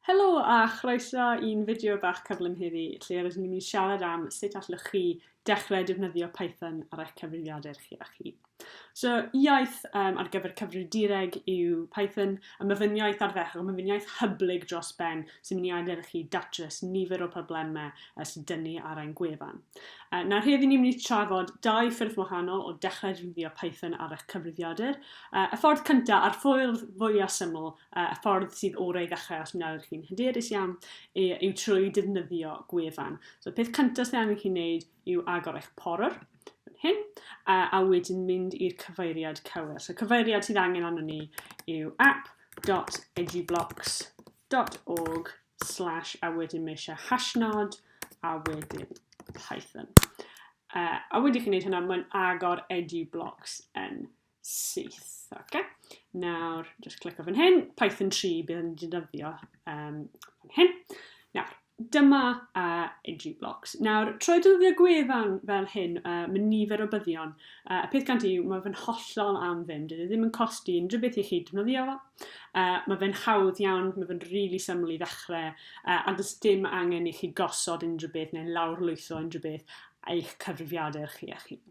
Helo a chroeso i'n fideo bach cyflym heddi lle rydyn ni'n mynd i siarad am sut allwch chi dechrau defnyddio Python ar eich cyfrifiadur chi a chi. So, iaith um, ar gyfer cyfrifiadureg yw Python, a mae fy'n iaith arferol, mae fy'n iaith hyblyg dros ben sy'n mynd i adael i chi datrys nifer o problemau sy'n dynnu ar ein gwefan. Uh, nawr heddi ni'n mynd i trafod dau ffyrdd wahanol o dechrau rhywio Python ar eich cyfrifiadur. Uh, y ffordd cyntaf a'r ffordd fwyaf syml, uh, y ffordd sydd orau i ddechrau os mi'n chi'n hyderus iawn, yw trwy defnyddio gwefan. So, peth cyntaf sydd angen chi'n neud yw agor eich porwr, hyn, a, a wedyn mynd i'r cyfeiriad cywir. So, cyfeiriad sydd angen arno ni yw app.edublocks.com dot org slash a wedyn mae eisiau hashnod a wedyn Python. Uh, a wedi chi'n gwneud hynna, mae'n agor edu blocks yn syth. Okay. Nawr, just clic o fan hyn, Python 3 bydd yn defnyddio um, fan hyn. Nawr, Dyma a unrhyw blocs. Nawr, trwy dylifio gwefan fel hyn, uh, mae nifer o byddion. Uh, y peth gan ti yw, mae fe'n hollol am ddim. Dydy e ddim yn costi unrhyw beth i chi defnyddio fo. Uh, mae fe'n hawdd iawn, mae fe'n rili really syml i ddechrau, uh, a does dim angen i chi gosod unrhyw beth neu'n lawrlwytho unrhyw beth eich cyfrifiadur chi eich hun.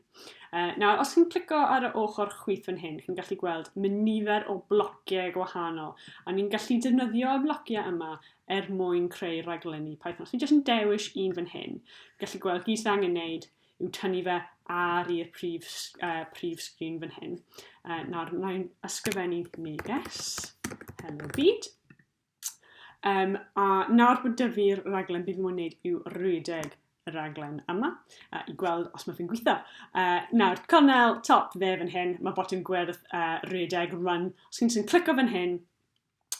Uh, nawr, os chi'n clico ar y ochr chwith fan hyn, chi'n gallu gweld mae nifer o blociau gwahanol, a ni'n gallu defnyddio y blociau yma er mwyn creu rhaglenni Python. Os ni jyst yn dewis un fan hyn, gallu gweld gyd sydd angen wneud yw tynnu fe ar i'r prif, uh, prif sgrin fan hyn. Uh, nawr, mae'n ysgrifennu neges, hello byd. Um, a nawr bod dyfu'r raglen, bydd mwyn wneud yw rhedeg y raglen yma uh, i gweld os mae fe'n gweithio. Uh, nawr, cornel top dde fan hyn, mae botwm gwyrdd uh, rhedeg run. Os chi'n clicio fan hyn,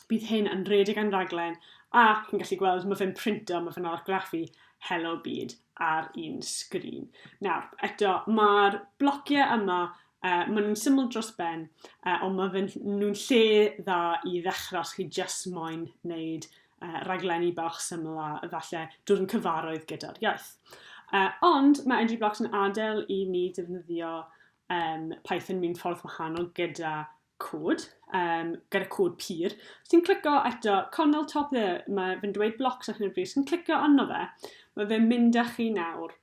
Bydd hyn yn redig yn rhaglen ac yn gallu gweld, mae fe'n printo, mae fe'n argraffu Hello Byd ar un sgrin. Nawr, eto, mae'r blociau yma, uh, maen nhw'n syml dros ben, uh, ond mae fe nhw'n lle dda i ddechrau os chi jyst moyn wneud uh, raglenni bach syml a efallai dod yn cyfaroedd gyda'r iaith. Uh, ond mae Edgy Blocks yn adael i ni defnyddio um, Python mewn ffordd wahanol gyda cod, um, gyda cod pur. Os ti'n clicio eto, Connell top there, mae fe'n dweud blocs ar hyn o bryd, os ti'n clicio arno fe, mae fe'n mynd â chi nawr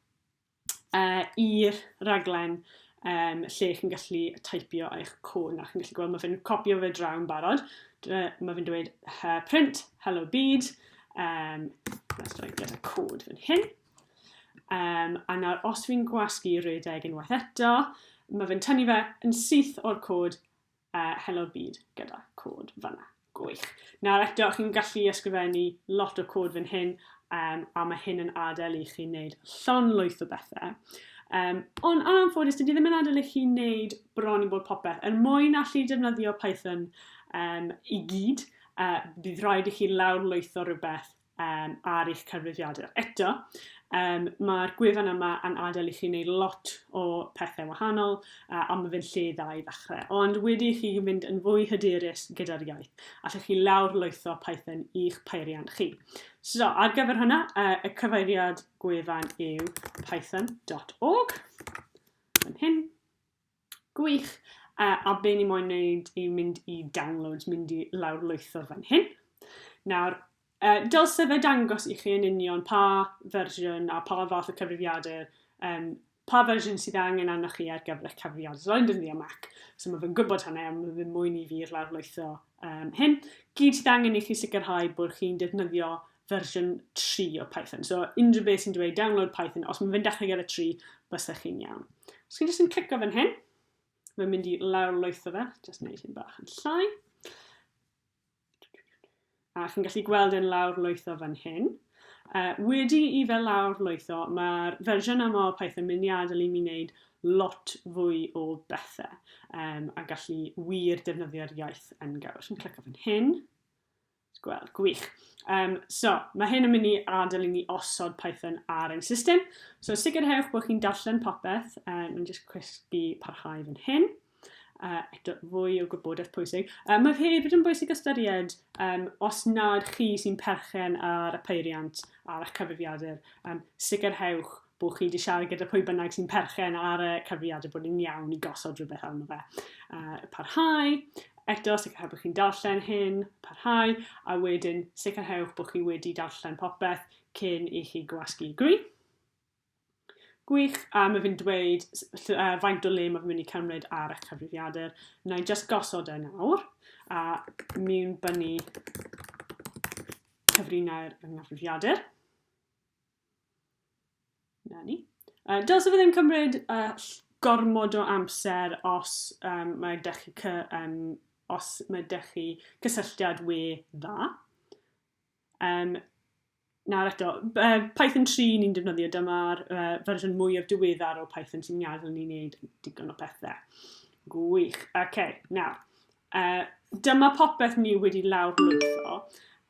uh, i'r raglen um, lle chi'n gallu typio eich cwn a chi'n gallu gweld mae fe'n copio fe draw yn barod. Uh, mae fe'n dweud uh, print, hello bead, um, let's try get a code fan hyn. Um, a nawr, os fi'n gwasgu redeg unwaith eto, mae fe'n tynnu fe yn syth o'r cod uh, Hello Byd gyda cod fanna. Gwych. Nawr eto, chi'n gallu ysgrifennu lot o cod fan hyn, um, a mae hyn yn adael i chi wneud llon lwyth o bethau. Um, ond yn anffodus, dydy ddim yn adael i chi wneud bron i bod popeth. Er mwyn allu defnyddio Python um, i gyd, uh, bydd rhaid i chi lawr lwytho rhywbeth um, ar eich cyfrifiadur. Eto, um, mae'r gwefan yma yn adael i chi wneud lot o pethau wahanol, uh, ond mae fe'n lle dda i ddechrau. Ond wedi chi fynd yn fwy hyderus gyda'r iaith, allwch chi lawr lwytho Python i'ch peiriant chi. So, ar gyfer hwnna, uh, y cyfeiriad gwefan yw python.org. Yn hyn. Gwych! Uh, a be ni moyn wneud yw mynd i downloads, mynd i lawr lwytho fan hyn. Nawr, uh, dylse fe dangos i chi yn union pa fersiwn a pa fath o cyfrifiadur, um, pa fersiwn sydd angen arnoch chi ar gyfer eich cyfrifiadur. So, dyn ni am Mac, so mae fe'n gwybod hynny, ond mae fe'n mwyn i fi'r lawr lwytho um, hyn. Gyd sydd angen i chi sicrhau bod chi'n defnyddio fersiwn 3 o Python. So unrhyw beth sy'n dweud download Python, os mae'n fynd allan gyda 3, bysda chi'n iawn. Os chi'n jyst yn clicio fan hyn, mae'n mynd i lawr lwytho fe, jyst wneud hyn bach yn llai. A chi'n gallu gweld yn lawr lwytho fan hyn. Uh, wedi i fe lawr lwytho, mae'r fersiwn yma o Python mynd i adael i mi wneud lot fwy o bethau um, a gallu wir defnyddio'r iaith yn gawr. Os chi'n clicio fan hyn, Gweld, gwych. Um, so, mae hyn yn mynd i adael i ni osod Python ar ein system. So, sicrhewch bod chi'n darllen popeth. Um, Mae'n jyst cwysgu parhau fan hyn. Uh, eto, fwy o gwybodaeth pwysig. Uh, mae hefyd yn bwysig ystyried um, os nad chi sy'n perchen ar y peiriant a'r cyfrifiadur, um, sicrhewch bod chi wedi siarad gyda pwy bynnag sy'n perchen ar y cyfriad a bod yn iawn i gosod rhywbeth arno fe. Uh, parhau, eto sicrhau bod chi'n darllen hyn, parhau, a wedyn sicrhewch bod chi wedi darllen popeth cyn i chi gwasgu gwi. Gwych, a mae fi'n dweud uh, faint o le mae fi'n mynd i cymryd ar eich cyfrifiadur. Na i just gosod e nawr, a mi'n bynnu cyfrinau'r yng nghyfrifiadur. Na ni. Uh, dylse fe ddim cymryd uh, gormod o amser os um, mae ydych chi cy, um, os mae ydych chi cysylltiad we dda. Um, nawr eto, uh, Python 3 ni'n defnyddio, dyma'r uh, fersiwn mwyaf diweddar o Python sy'n gadael ni wneud digon o pethau. Gwych. Oce, okay, nawr. Uh, dyma popeth ni wedi lawr lwytho.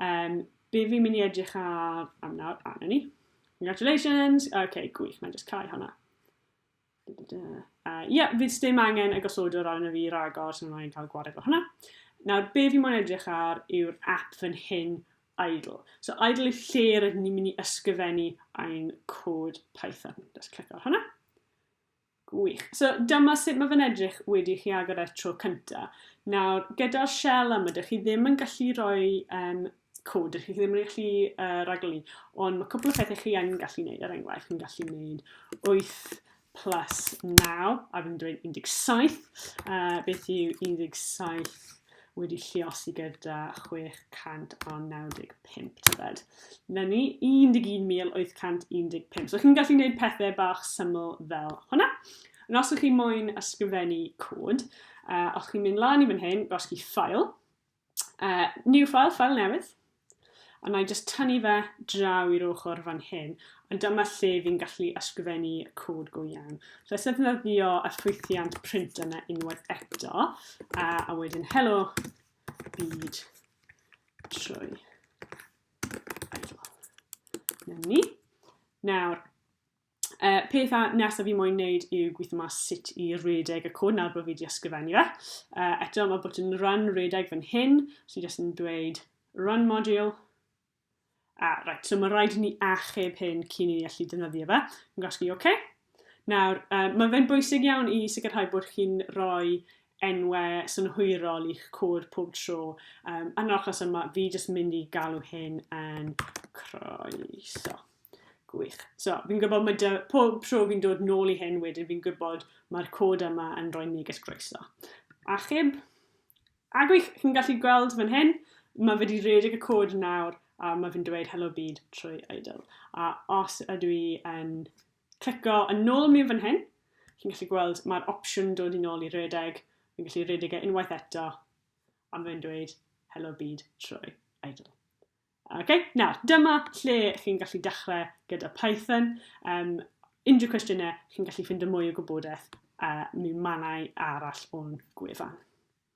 Um, Be fi'n mynd i edrych ar am nawr? A, na ni. Congratulations! OK, gwych, mae'n just cael hwnna. Uh, yeah, fydd ddim angen y gosodwr arno fi ragor, so mae'n cael gwared o hwnna. Nawr, be fi mo'n edrych ar yw'r app fan hyn, idle. So idle yw lle rydyn ni'n mynd i ysgrifennu ein cod Python. Just clic ar hwnna. Gwych. So, dyma sut mae fe'n edrych wedi chi agor e'r tro cynta. Nawr, gyda'r shell yma, dych chi ddim yn gallu rhoi um, cod, dych chi ddim yn gallu uh, raglenni, ond mae cwpl o phethau chi yn gallu gwneud, er enghraifft, chi'n gallu gwneud 8 plus 9, a fi'n dweud 17, uh, beth yw 17 wedi lliosi gyda 695 tybed. Na ni, 11,815. So chi'n gallu gwneud pethau bach syml fel hwnna. Yn os ydych chi moyn ysgrifennu cod, uh, os chi'n mynd lan i fan hyn, gosgi ffael, uh, new file, ffael newydd, A wna i jyst tynnu fe draw i'r ochr fan hyn, a dyma lle fi'n gallu ysgrifennu y cod go iawn. So es ddefnyddio y llwythiant print yna unwaith eto, a, a wedyn helo byd trwy idol. Nawr, Uh, pethau nesaf fi moyn wneud yw gweithio mas sut i redeg y cwn nawr bod fi wedi ysgrifennu fe. Uh, eto mae bod yn rhan redeg fan hyn, so i jyst yn dweud run module. A, ah, right, so mae rhaid i ni achub hyn cyn i ni allu defnyddio fe. Yn gosgu oce. Okay. Nawr, uh, mae fe'n bwysig iawn i sicrhau bod chi'n rhoi enwau synhwyrol i'ch cod pob tro. Um, yn yr achos yma, fi jyst mynd i galw hyn yn croeso. Gwych. So, fi'n gwybod mae dy, pob tro fi'n dod nôl i hyn wedyn, fi'n gwybod mae'r cod yma yn rhoi neges groeso. Achub, a gwych, chi'n gallu gweld fan hyn, mae wedi redig y cod nawr a mae fi'n dweud hello byd trwy idle. A os ydw i yn clico yn ôl mi fan hyn, chi'n gallu gweld mae'r opsiwn dod i'n ôl i redeg, fi'n gallu redeg e unwaith eto, a mae'n dweud hello byd trwy idle. Ok, nawr, dyma lle chi'n gallu dechrau gyda Python. Um, unrhyw cwestiynau, chi'n gallu ffind y mwy o gwybodaeth uh, mi manau arall o'n gwefan.